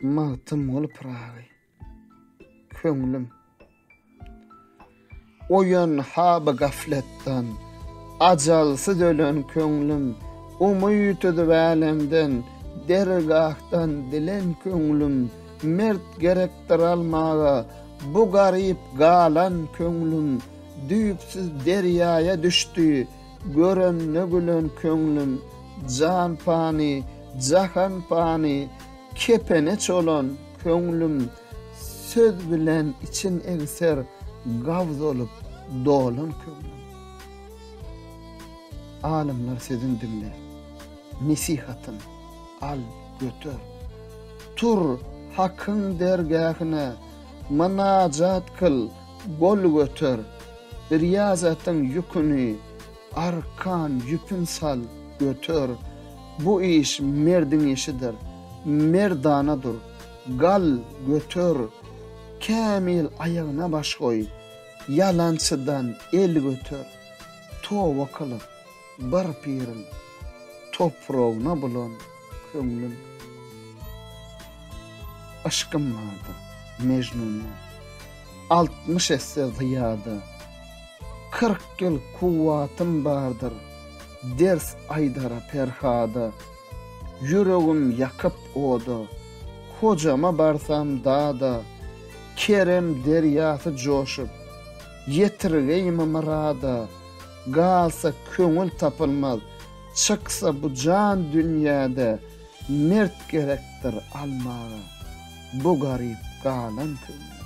Magtymguly Pyragy Köňlüm Oýan haby gafletden Ajalsyz ölen köňlüm Umyt üzüp älemden Dergahdan dilen köňlüm Mert gerekdir almaga Bu garyp galan köňlüm Düýpsüz derýaýa düşdi. Görende gülen köňlüm. Jan pany, jahan pany. Kepene çolan köňlüm. Söz bilen için egser. Gawz olup dolan köňlüm. Alymlar sözün diňle. Nesihatyn al, göter. Tur Hakyň dergähine. Mynajat kyl. Gol göter, riýazatyň ýüküni, arkan ýüpün sal, göter. Bu iş merdiň işidir. Merdana dur. Gal, göter. Kämil aýagyna baş goý. Ýalançydan el göter. Toba kylyp, Bir piriň topragyna bulan köňlüm. Yşkym bardyr Mejnundan altmyş esse zyýada. Kyrk ýyl kuwwatym bardyr ders aýdara Perhada. Ýüregim ýakyp oda, Hojama barsam dada. Kerem derýasy joşup, ýetirgeými myrada. Galsa köňül tapylmaz, çyksa bu jan dünýäde, mert gerekdir almaga bu garyp galan köňli.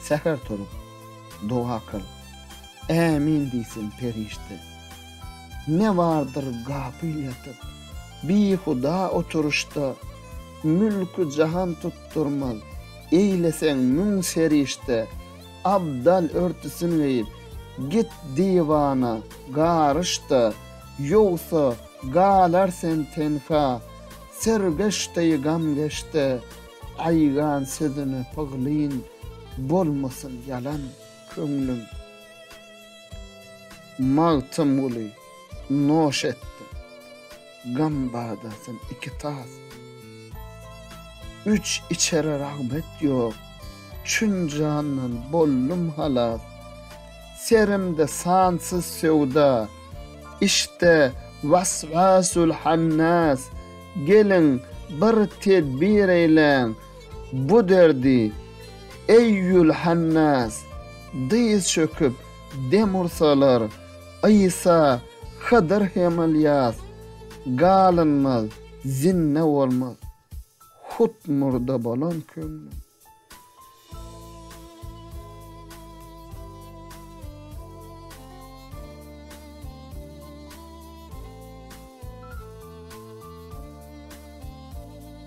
Säher turup, doga kyl, ämin diýsin perişde. Ne bardyr gapyl ýatyp, bihuda oturyşda, mülki jahan tutdurmaz, eýleseň müň serişde. Abdal örtüsini geýip, git diwana, garyş-da, ýogsa, galar sen tenha. Sergeş deý gamgeşde, aýgan sözüne pyglyn, bolmasyn ýalan köňlüm. Magtymguly, noş etdim. Gam badasyn iki tas. Üç içere ragmet ýok. Çün jandan boldum halas. Serimde sansyz söwda. Işde waswasul hannas. Geliň bir tedbir eýläň. Bu derdi eýýul hannas. Dyz çöküp dem ursalar. Isa Hydyr hem Ylýas, Galynmaz, Zinne bolmaz, Hut murda bolan köňlüm.